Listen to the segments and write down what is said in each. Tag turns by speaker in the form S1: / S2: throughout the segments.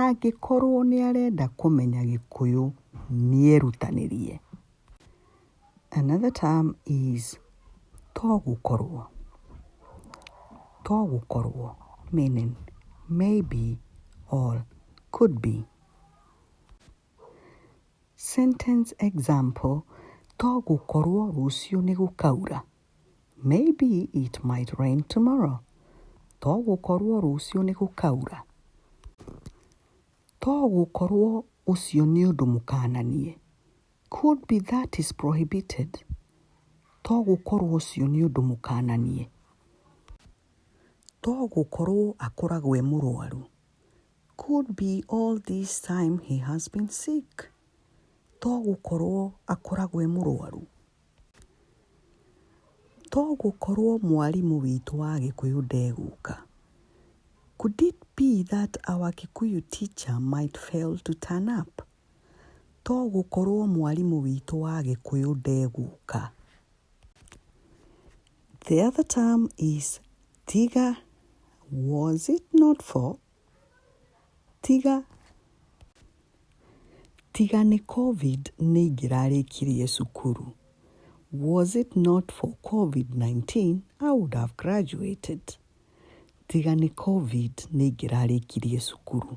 S1: Angĩkorwo nĩ arenda kũmenya gĩkũyũ nĩ erutanĩrie. Another term is to gũkorwo. To gũkorwo meaning maybe or could be. Sentence example, to gũkorwo rũciũ nĩ gũkaura. Maybe it might rain tomorrow. To gũkorũo rũciũ nĩ gũkaura. To gũkorũo ũcio nĩ ũndũ mũkananie. Could be that is prohibited. To gũkorũo ũcio nĩ ũndũ mũkananie. To gũkorũo akoragwo e mũrwaru. Could be all this time he has been sick. To gũkorũo akoragwo e mũrwaru. To gũkorwo mwarimũ witũ wa Gĩkũyũ ndegũka. Could it be that our Kikuyu teacher might fail to turn up? To gũkorwo mwarimũ witũ wa Gĩkũyũ ndegũka. The other term is tiga. Was it not for? Tiga, tiga nĩ Covid nĩ ingĩrarĩkirie cukuru. Was it not for Covid-19 I would have graduated. Tiga nĩ Covid nĩ ingĩrarĩkirie cukuru.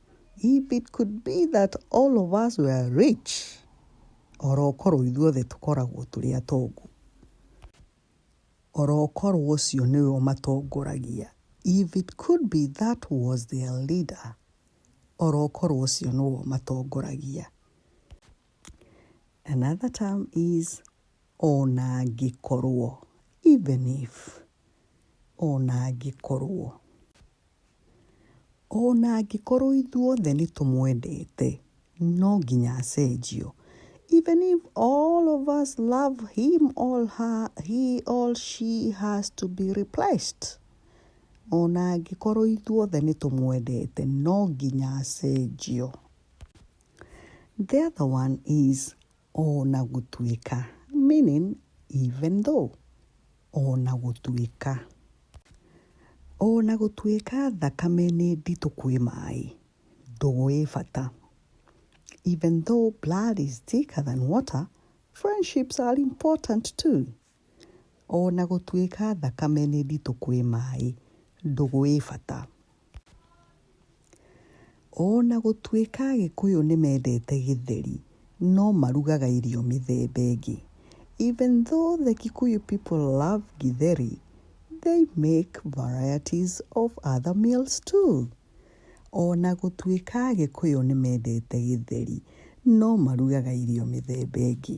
S1: If it could be that all of us were rich, orokorwo ithuothe tũkoragwo tũrĩ atongu, orokorwo ũcio nĩwe ũmatongoragia, if it could be that was their leader, orokorwo ũcio nĩwe ũmatongoragia. Another term is ona angĩkorwo, even if, ona angĩkorwo. Ona angĩkorwo ithuothe nĩ tũmwendete, no nginya acenjio. Even if all of us love him or her, he or she has to be replaced. Ona angĩkorwo ithuothe nĩ tũmwendete, no nginya acenjio. The other one is ona gũtuĩka, meaning even though. O na gũtuĩka. O na gũtuĩka thakame nĩ nditũ kwĩ maĩ, ndũgũ ĩ bata. Even though blood is thicker than water, friendships are important too. O na gũtuĩka thakame nĩ nditũ kwĩ maĩ, ndũgũ ĩ bata. O na gũtuĩka Agĩkũyũ nĩ mendete githeri, no marugaga irio mĩthemba ĩngĩ. Even though the Kikuyu people love githeri, they make varieties of other meals too. O na gũtuĩka Agĩkũyũ nĩ mendete githeri, no marugaga irio mĩthemba ĩngĩ.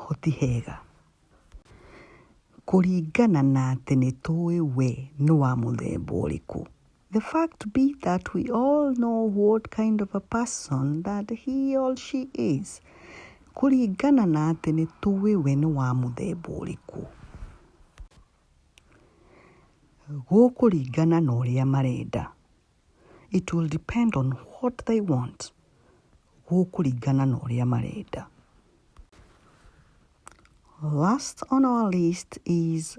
S1: ho ti hega. Kũringana na atĩ nĩ tũĩ we nĩ wa mũthemba ũrĩkũ. The fact be that we all know what kind of a person that he or she is. Kũringana na atĩ nĩ tũĩ we nĩ wa mũthemba ũrĩkũ. Gũkũringana na ũrĩa marenda. It will depend on what they want. Gũkũringana na ũrĩa marenda. Last on our list is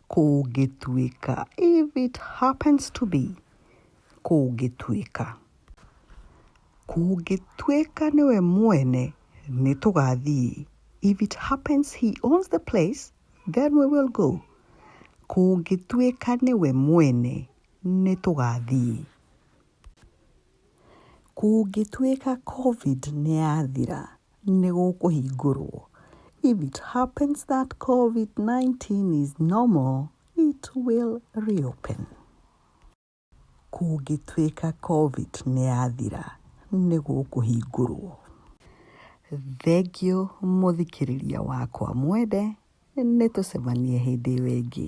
S1: kũngĩtuĩka. If it happens to be kũngĩtuĩka. Kũngĩtuĩka nĩwe mwene nĩ tũgathiĩ. If it happens he owns the place, then we will go. Kũngĩtuĩka nĩwe mwene nĩ tũgathiĩ. Kũngĩtuĩka Covid nĩ yathira, nĩ gũkũhingũrũo. If it happens that Covid-19 is no more, it will reopen. Kũngĩtuĩka Covid nĩ yathira, nĩ gũkũhingũrũo. Thengiũ mũthikĩrĩria wakwa mwende, nĩ tũcemanie hĩndĩ ĩyo ĩngĩ.